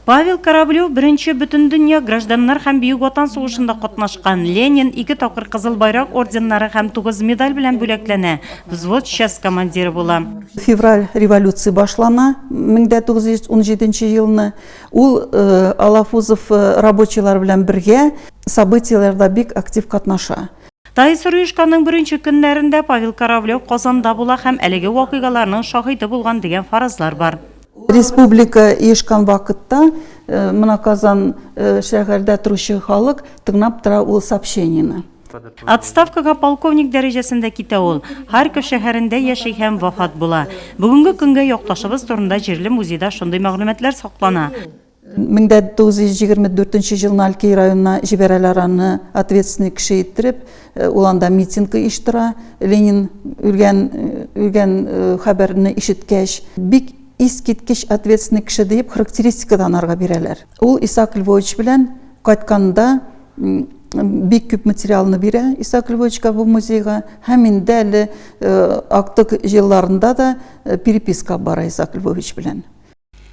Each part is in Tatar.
Павел Кораблев беренче бөтендөнья гражданнар һәм Бөек Ватан сугышында катнашкан, Ленин ике тапкыр Кызыл Байрак орденнары һәм тугыз медаль белән бүләкләнә, взвод часть командиры була. Февраль революция башлана, 1917 елны. Ул Алафузов рабочийлар белән бергә событиеләрдә бик актив катнаша. Тайсырюшканың беренче көннәрендә Павел Кораблев Казанда була һәм әлеге вакыйгаларның шаһиты булган дигән фаразлар бар. Республика иешкан вакытта э, мына Казан э, шәһәрдә торучы халык тыңлап тора ул сообщениены. Отставкага полковник дәрәҗәсендә китә ул. Харьков шәһәрендә яши һәм вафат була. Бүгенге көнгә якташыбыз турында җирле музейда шундый мәгълүматлар саклана. 1924 елны Алькей районына җибәрәләр аны ответственный кеше иттереп, э, ул анда митинг оештыра. Ленин үлгән э, үлгән э, хәбәрне ишеткәч, бик искиткеч ответственный кеше дип характеристика да анарга бирәләр. Ул Исаак Львович белән кайтканда бик күп материалны бирә Исаак Львовичка бу музейга һәм инде әле актык елларында да переписка бара Исаак Львович белән.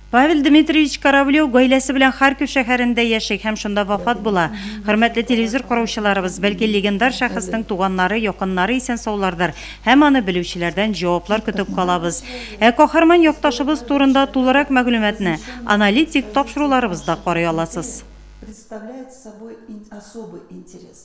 Павел Дмитриевич Кораблев гаиләсе белән Харьков шәһәрендә яши һәм шунда вафат була. Хөрмәтле телевизор караучыларыбыз, бәлки легендар шәхеснең туганнары, якыннары исән-саулардыр һәм аны белүчеләрдән җаваплар көтеп калабыз. Ә каһарман якташыбыз турында тулырак мәгълүматны аналитик тапшыруларыбызда карый аласыз.